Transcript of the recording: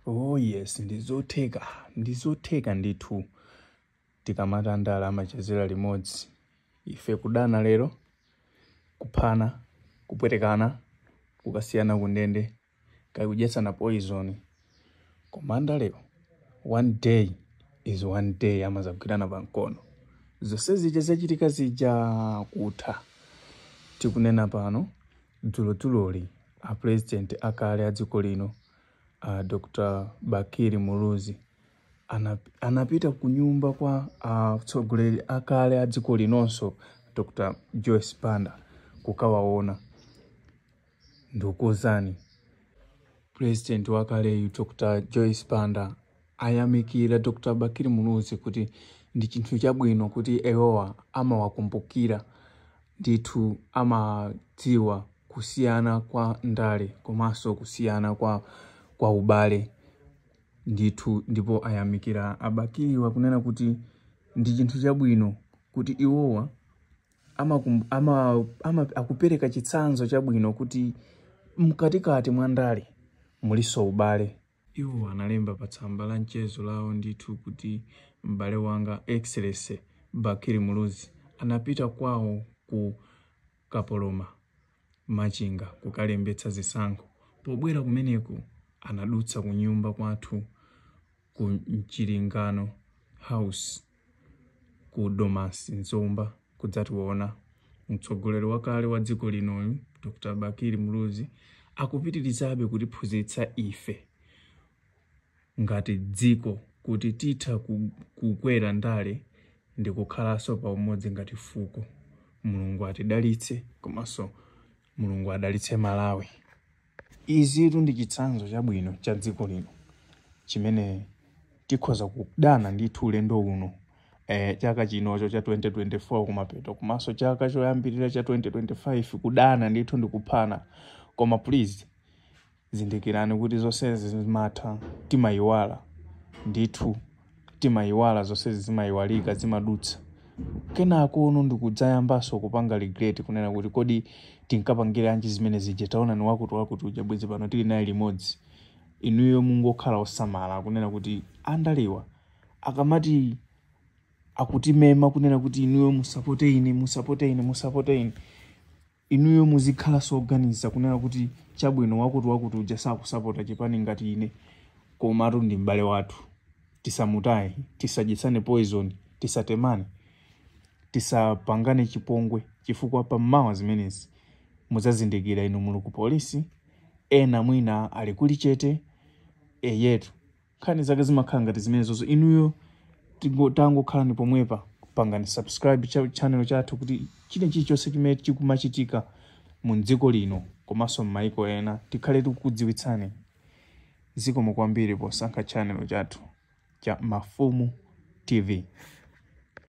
Oh yes, ndizotheka ndizotheka ndithu tikamati andala amachezera limodzi ife kudana lero kuphana kupwetekana kukasiyana kundende kaya kudyetsana poison koma andalewo one day is one day amadzagwirana pa mkono zonse zija zachitika zija kutha tikunena pano dzulodzulo a president akale a dziko lino Dr. Bakili Muluzi anapita ku nyumba kwa atsogoleri uh, akale a dziko linonso Dr. Joyce Banda kukawaona ndikuuzani president wakaleyu Dr. Joyce Banda ayamikira Dr. Bakili Muluzi kuti ndi chinthu chabwino kuti iwowa amawakumbukira ndithu amadziwa kusiyana kwa ndale komanso kusiyana kwa, kwa ubale ndithu ndipo ayamikira a Bakili pakunena kuti ndi chinthu chabwino kuti iwowa ama, ama, ama, akupereka chitsanzo chabwino kuti mkatikati mwa ndale mulinso ubale Iwo analemba pa tsamba la mchezo lawo ndithu kuti m'bale wanga Excellency Bakili Muluzi anapita kwawo ku Kapoloma, Machinga kukalembetsa zisankho. Pobwera kumeneko anadutsa kunyumba kwathu ku Mchilingano House. ku Domasi m'Zomba kudzationa. Mtsogoleri wakale wa dziko linoyu Dr. Bakili Muluzi akupitirizabe kutiphunzitsa ife ngati dziko kuti titha ku- kukwera ndale ndi kukhalanso pa umodzi ngati fuko. Mulungu atidalitse komanso Mulungu adalitse Malawi. Izitu ndi chitsanzo chabwino cha dziko lino chimene tikhoza kudana ndithu ulendo uno eh, chaka chinocho cha 2024 kumapeto komanso chaka choyambirira cha 2025 kudana ndithu ndi kuphana koma please zindikirani kuti zonsezi zimatha timayiwala ndithu timayiwala zonsezi zimayiwalika zimadutsa kenakono ndikudzayambanso kupanga regret kunena kuti kodi tinkapangira anji zimene zija taonani wakuti wakuti uja bwezi pano tili naye limodzi inuyo mungokhala osamala kunena kuti andalewa akamati akukumemani kunena kuti inuyo musapote ine musapote ine musapote ine Inuyo muzikhalanso oganiza kunena kuti chabwino wakuti wakuti uja sakusapota chipani ngati ine komatu ndi m'bale wathu tisamutaye, tisadyetsane poison, tisatemane, tisapangane chipongwe chifukwa pa mawa zimenezi mudzazindikira inu muli ku police ena mwina ali ku Lichete eyetu nkhani zake zimakhala ngati zimenezozo inuyo tingo- tangokhalani pomwepa pangani subscribe cha channel chathu kuti china chilichonse chimene chikumachitika mu dziko lino komanso m'maiko ena tikhale tikukudziwitsani zikomo kwambiri posankha channel chathu cha mafumu tv